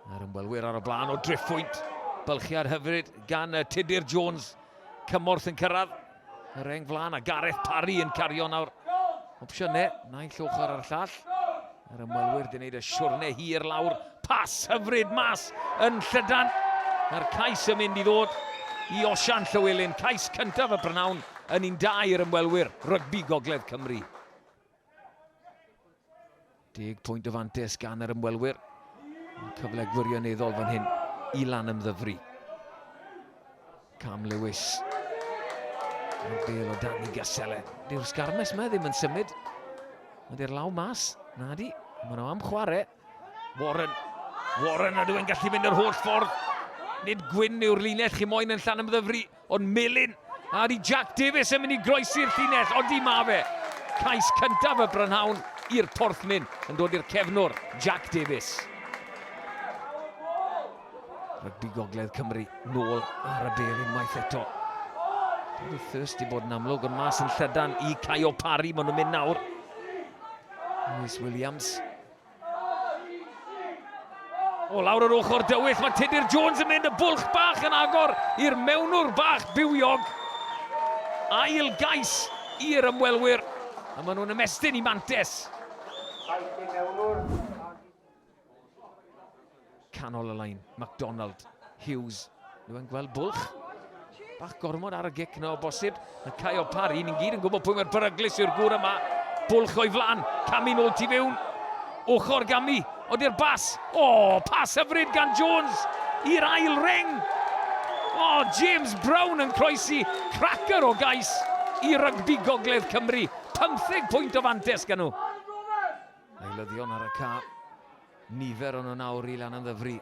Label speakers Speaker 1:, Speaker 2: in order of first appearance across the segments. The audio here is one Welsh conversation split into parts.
Speaker 1: Yr ymwelwyr ar y blaen o driphwynt. Bylchiad hyfryd gan y Tudur Jones. Cymorth yn cyrraedd y reng flaen a Gareth Parry yn cario nawr opsiynau. Naill ochr ar y llall. Yr ymwelwyr di wneud y siwrne hir lawr. Pas hyfryd mas yn llydan. Mae'r cais yn mynd i ddod i Osian Llywelyn. Cais cyntaf y Brynawn yn un da i'r ymwelwyr rygbi Gogledd Cymru. Deg pwynt o fantes gan yr ymwelwyr. Cyfle gwirioneddol fan hyn i lan ymddyfru. Cam Lewis. Mae'r bel o dan i Gasele. Dyw'r sgarmes yma ddim yn symud. Mae di'r law mas. Na di. Mae nhw am chwarae. Warren. Warren a dwi'n gallu mynd yr holl ffordd. Nid gwyn yw'r linell chi moyn yn llan ymddyfru. Ond Melin a ydy Jack Davies yn mynd i groesi'r llinell? Odi, mae fe! Cais cyntaf y brynhawn i'r Porthmyn yn dod i'r cefnwr, Jack Davies. Rygbi Gogledd Cymru nôl ar y bel unwaith eto. Roedd y thirst i bod yn amlwg yn mas yn llydan i Caio Parry. Maen nhw'n mynd nawr. Lewis Williams. O lawr yr ochr dywyll, mae Tudur Jones yn mynd y bwlch bach yn agor i'r mewnwr bach bywiog. Ail gais i'r ymwelwyr, a maen nhw'n ymestyn i Mantes. Canol y lain, McDonald, Hughes, nhw yn gweld bwlch. Bach gormod ar y gic yna o bosib. Mae Caio Parry, ni'n gyd yn gwybod pwy mae'r beryglus yw'r gŵr yma. Bwlch o'i flan, Cami nôl ti fewn. Ochr Gami, odi'r bas. O, oh, pas hyfryd gan Jones i'r ail reng. O, oh, James Brown yn croesi cracker o gais i rygbi gogledd Cymru. 15 pwynt o fantes gan nhw. Eilyddion ar y ca. Nifer o nhw nawr i lan yn ddyfri.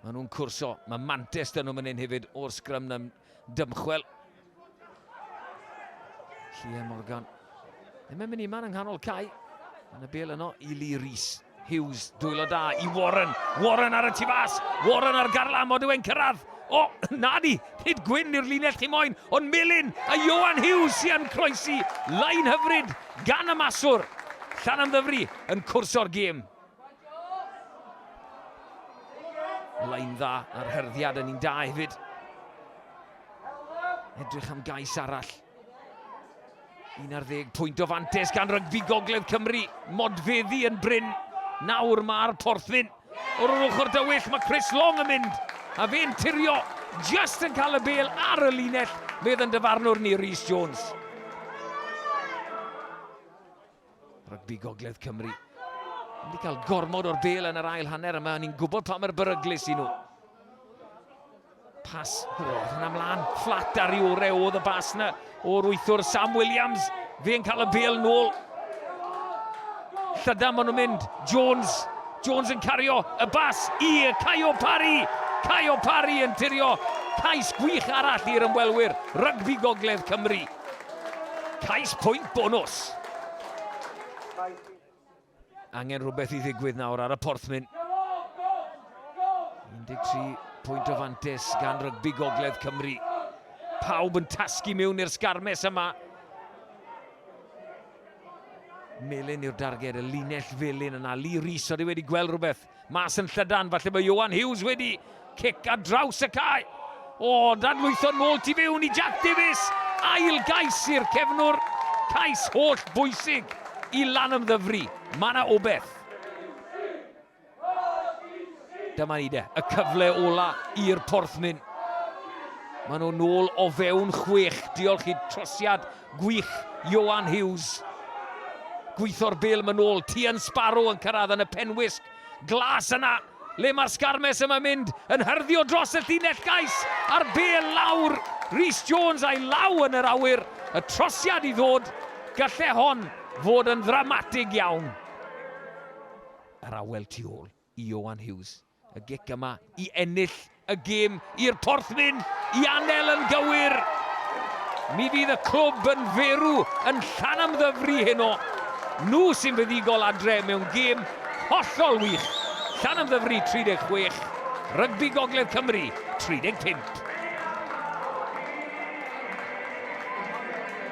Speaker 1: Mae nhw'n cwrso. Mae Mantes dyn nhw mynnyn hefyd o'r sgrym yn dymchwel. Llian Morgan. Ddim yn mynd i man yng nghanol cae. Yn y bel yno i Lee Rhys. Hughes, dwylo da i Warren. Warren ar y tu fas. Warren ar garlam, o dwi'n cyrraedd. O, na di, nid gwyn i'r linell ti moyn, ond Melin a Johan Hughes sy'n croesi. Lain hyfryd gan y maswr. Llan yn ddyfru yn cwrso'r gêm. Lain dda ar hyrddiad yn un da hefyd. Edrych am gais arall. Un ar ddeg pwynt o fantes gan rygbi Gogledd Cymru. Modfeddi yn bryn. Nawr mae'r porthyn. O'r o'r ochr dywyll mae Chris Long yn mynd. A fe'n tirio. Just yn cael y bel ar y linell. Medd yn dyfarnwr ni Rhys Jones. Rygbi Gogledd Cymru. Yn di cael gormod o'r bel yn yr ail hanner yma, ni'n gwybod pa mae'r beryglus i nhw. Pas, o, hwnna mlaen, fflat ar i ore oedd y bas na, o'r wythwr Sam Williams, fe'n cael y bel nôl. Llydan maen nhw'n mynd, Jones, Jones yn cario y bas i Caio Parry, Caio Parry yn tirio cais gwych arall i'r ymwelwyr, rygbi gogledd Cymru. Cais pwynt bonws! Angen rhywbeth i ddigwydd nawr ar y porthmyn. 13 pwynt o fantes gan rygbi Gogledd Cymru. Pawb yn tasgu mewn i'r sgarmes yma. Melin yw'r darged, y linell felin yna. Lee Rees, oedd wedi gweld rhywbeth. Mas yn llydan, falle mae Ioan Hughes wedi cic ar draws y cae. O, dadlwytho nôl tu fewn i Jack Davies. Ail gais i'r cefnwr. Cais holl bwysig i lan ymddyfru. Mae yna obeth. Dyma ni de, y cyfle ola i'r porthmyn. Mae nhw nôl o fewn chwech. Diolch i trosiad Gwych, Ioan Hughes. Gweithio'r bêl yn ôl, Tien Sparrow yn cyrraedd yn y penwisg glas yna. Le mae'r sgarmes yma mynd yn hyrddio dros y llinell gais a'r bêl lawr. Rhys Jones a'i law yn yr awyr, y trosiad i ddod, gallai hon fod yn ddramatig iawn. Yr awel tu ôl i Ioan Hughes. Y gic yma i ennill y gêm i'r porthwyn i Anel yn gywir! Mi fydd y clwb yn ferw yn Llanymddyfri heno. Nhw sy'n fuddugol adre mewn gêm hollol wych. Llanymddyfri 36, Rygbi Gogledd Cymru 35.